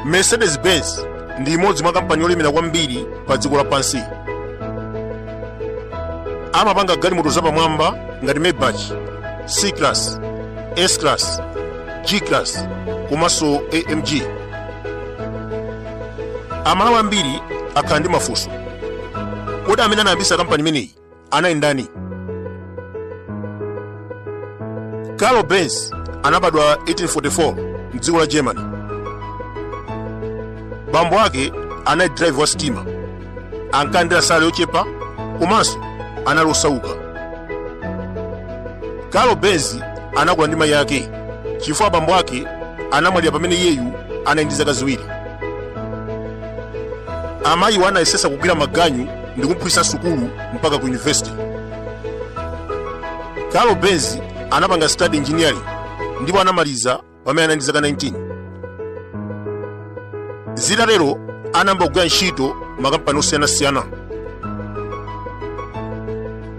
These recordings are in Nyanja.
Mercedes-Benz ndi imodzi mwa kampani yolemera kwambiri pa dziko lapansi. Amapanga galimoto zapamwamba ngati Maybach, C-Class, S-Class, G-Class komanso AMG. Amalawi ambiri akhala ndi mafunso. Kodi amene anayambitsa kampani imeneyi Anali ndani? Karl Benz anabadwa 1844 mdziko la Germany. Bambo ake anali driver wa sitima, ankalandira salary yochepa komanso anali osauka. Karl Benz anakula ndi mayi ake chifukwa bambo ake anamwalira pamene iyeyu anali ndi zaka ziwiri. Amayiwo anayesesa kugwira maganyu ndi kumuphunzitsa sukulu mpaka ku university karl benz anapanga study engineering ndipo anamaliza pamene anali ndi zaka 19 zitatero anayamba kugwira ntchito m'makampani osiyanasiyana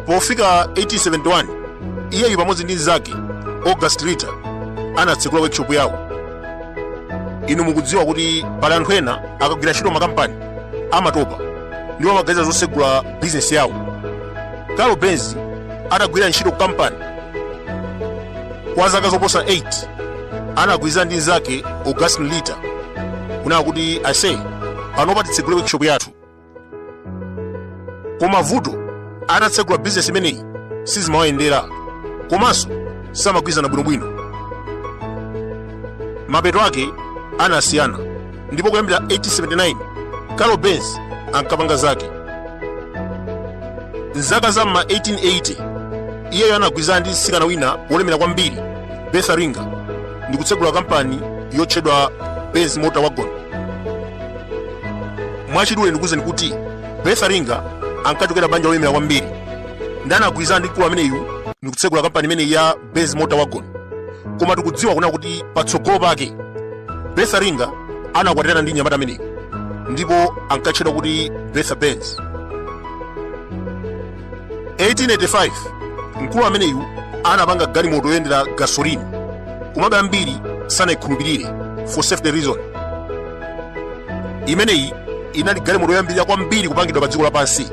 pofika 1871 iyeyu pamodzi ndi mnzake august ritter anatsekula workshop yawo inu mukudziwa kuti pali anthu ena akagwira ntchito m'makampani amatopa ndipo amaganiza zotsegula bizinesi yawo karl benz atagwira ntchito ku kampani kwa zaka zoposa 8 anagwirizana ndi mnzake august ritter kunena kuti aise panopa titsegule workshop yathu koma vuto atatsegula bizinesi imeneyi sizimawayendera komanso samagwirizana bwinobwino mapeto ake anasiyana ndipo kuyambira 1879 karl benz ankapanga zake mzaka za m'ma 1880 iyeyo anagwirizana ndi mtsikana wina wolemera kwambiri bertha ringer ndi kutsegula kampani yotchedwa benz motor wagon mwachidule ndikuwuzeni kuti bertha ringer ankachokera banja lolemera kwambiri ndiye anagwirizana ndi mkulu ameneyu ndi kutsegula kampani imeneyi ya benz motor wagon koma tikudziwa kunena kuti patsogolo pake bertha ringer anakwatirana ndi mnyamata ameneyu ndipo ankatchedwa kuti bertha benz 1885 mkulu ameneyu anapanga galimoto yoyendera gasoline komabe ambiri sanayikhulupirire for safety reason imeneyi inali galimoto yoyambirira kwambiri kupangidwa pa dziko lapansi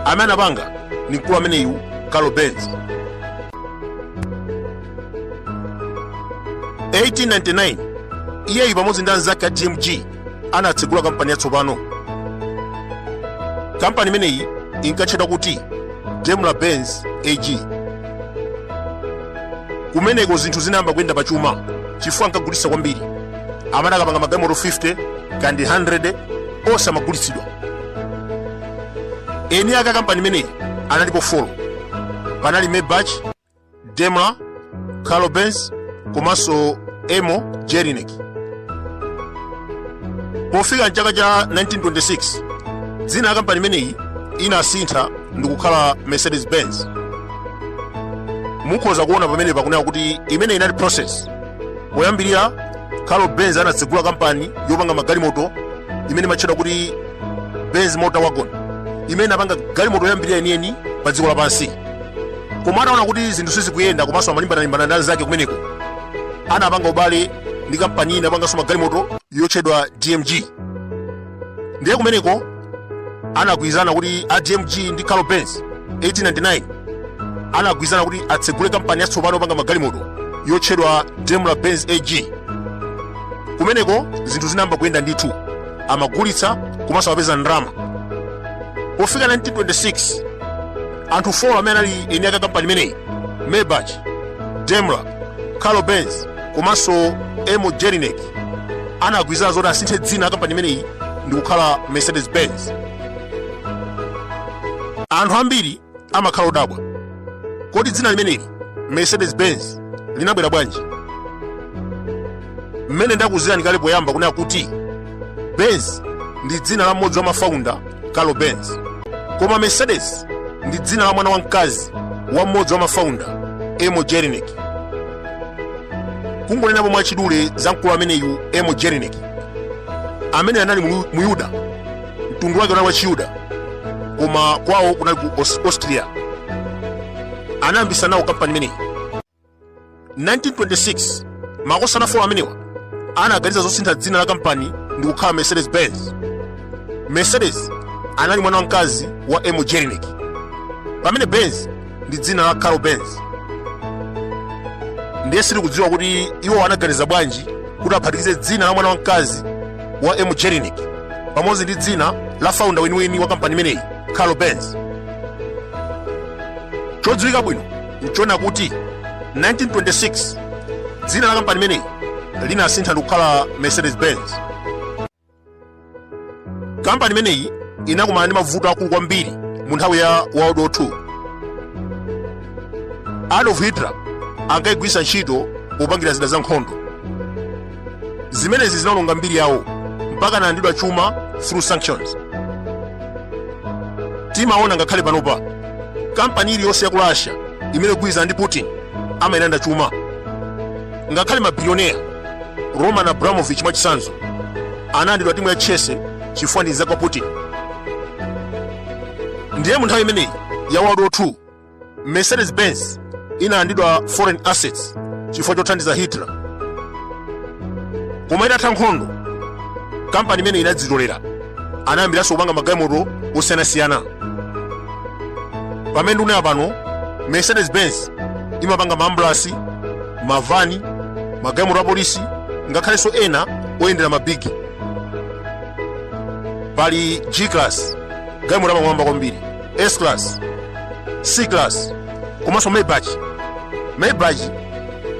amene anapanga ni mkulu ameneyu karl benz 1899 iyeyu pamodzi ndi anzake a dmg anatsegula kampani yatsopano kampani imeneyi inkatchedwa kuti daimler benz ag kumeneko zinthu zinayamba kuyenda pa chuma chifukwa ankagulitsa kwambiri amati akapanga magalimoto 50 kapena 100 onse amagulitsidwa eni ake a kampani imeneyi analipo 4 panali maybach daimler carlo benz komanso emil jelinek pofika mchaka cha 1926 dzina la kampani imeneyi inasintha ndikukhala mercedes benz mukhoza kuona pamene pakunena kuti imeneyi inali process poyambirira carlo benz anatsegula kampani yopanga magalimoto imene imatchedwa kuti benz motorwagen imene inapanga galimoto yoyambirira yeniyeni pa dziko lapansi koma ataona kuti zinthu sizikuyenda komanso amalimbana-limbana ndi anzake kumeneko anapanga ubale ndi kampani ina yopanganso magalimoto yotchedwa dmg ndiye kumeneko anagwirizana kuti a dmg ndi carlo benz 1899 anagwirizana kuti atsegule kampani yatsopano yopanga magalimoto yotchedwa daimler benz ag kumeneko zinthu zinayamba kuyenda ndithu amagulitsa komanso amapeza ndalama pofika 1926 anthu 4 amene anali eni ake a kampani imeneyi maybach daimler carlo benz komanso emil jelinek anagwirizana zoti asinthe dzina la kampani imeneyi ndi kukhala mercedes benz anthu ambiri amakhala odabwa. Kodi dzina limeneli Mercedes-Benz linabwera bwanji? Mmene ndakuuzirani kale poyamba kunena kuti Benz ndi dzina la mmodzi wa mafaunda Carlo Benz, koma Mercedes ndi dzina la mwana wamkazi wa mmodzi wa mafaunda Emil Jelinek. Kungonenapo mwachidule za mkulu ameneyu Emil Jelinek, amene anali Muyuda mtundu wake unali wa chiyuda koma kwawo kunali ku austria anayambitsa nawo kampani imeneyi 1926 makosana 4 amenewa anaganiza zosintha dzina la kampani ndi kukhala mercedes benz mercedes anali mwana wamkazi wa emil jelinek pamene benz ndi dzina la carlo benz ndiye sitikudziwa kuti iwo anaganiza bwanji kuti aphatikize dzina la mwana wamkazi wa emil jelinek pamodzi ndi dzina la faunda weniweni wa kampani imeneyi carlo benz chodziwika bwino nchonena kuti 1926 dzina la kampani imeneyi linasintha ndikukhala mercedes benz kampani imeneyi inakumana ndi mavuto akulu kwambiri mu nthawi ya world war ii adolf hitler ankayigwiritsa ntchito popangira zida za nkhondo zimenezi zinaononga mbiri yawo mpaka analandidwa chuma through sanctions timaona ngakhale panopa kampani iliyonse ya ku russia imene igwirizana ndi putin amayilanda chuma ngakhale mabilioneya roman abramovich mwachitsanzo analandidwa timu ya chelsea chifukwa ndi nzake wa putin ndiye mu nthawi imeneyi ya world war 2 mercedes benz inalandidwa foreign assets chifukwa chothandiza hitler koma itatha nkhondo kampani imeneyi inadzitolera anayambiranso kupanga magalimoto osiyanasiyana pamene ndikunena pano mercedes benz imapanga maambulasi mavani magalimoto apolisi ngakhalenso ena oyendera mabigi pali g class galimoto yapamwamba kwambiri s class c class komanso maybach maybach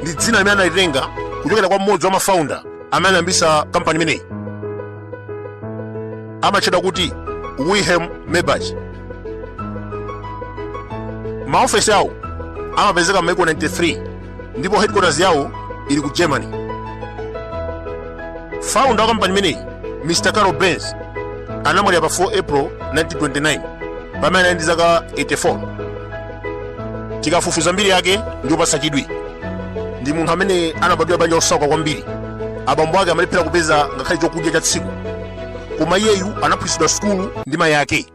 ndi dzina limene analitenga kuchokera kwa mmodzi wa mafaunda amene anayambisa kampani imeneyi amatchedwa kuti wilhelm maybach maofesi awo amapezeka m'maiko 93 ndipo headquarters yawo ili ku germany founder wa kampani imeneyi mr carl benz anamwalira pa 4 april 1929 pamene anali ndi zaka 84 tikafufuza mbiri yake ndi yopatsa chidwi ndi munthu amene anabadwira banja losauka kwambiri abambo ake amalephera kupeza ngakhale chokudya cha tsiku koma iyeyu anaphunzitsidwa sukulu ndi mayi ake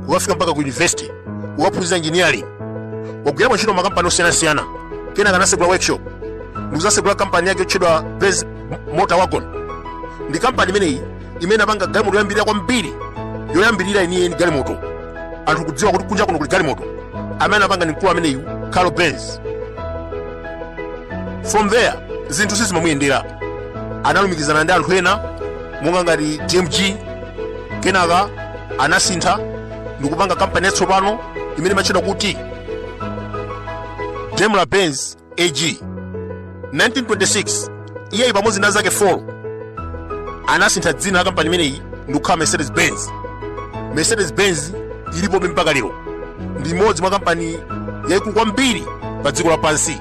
kukafika mpaka ku yunivesite kukaphunzira engineering wagwira ntchito makampani osiyanasiyana kenaka anasegula workshop ndikuzasegula kampani yake yotchedwa Benz motor wagon ndi kampani imeneyi imene inapanga galimoto yoyambirira kwambiri yoyambirira yeniyeni galimoto anthu kudziwa kuti kunja kuno kuli galimoto amene anapanga ndi mkulu ameneyu carl benz from there zinthu sizimamuyendera analumikizana ndi anthu ena monga ngati dmg kenaka anasintha ndikupanga kampani yatsopano imene imatchedwa kuti daimler benz AG 1926 iyeyu pamodzi ndi anzake 4 anasintha dzina la kampani imeneyi ndikukhala mercedes benz mercedes benz ilipobe mpaka lero ndi imodzi mwa kampani yaikulu kwambiri pa dziko lapansi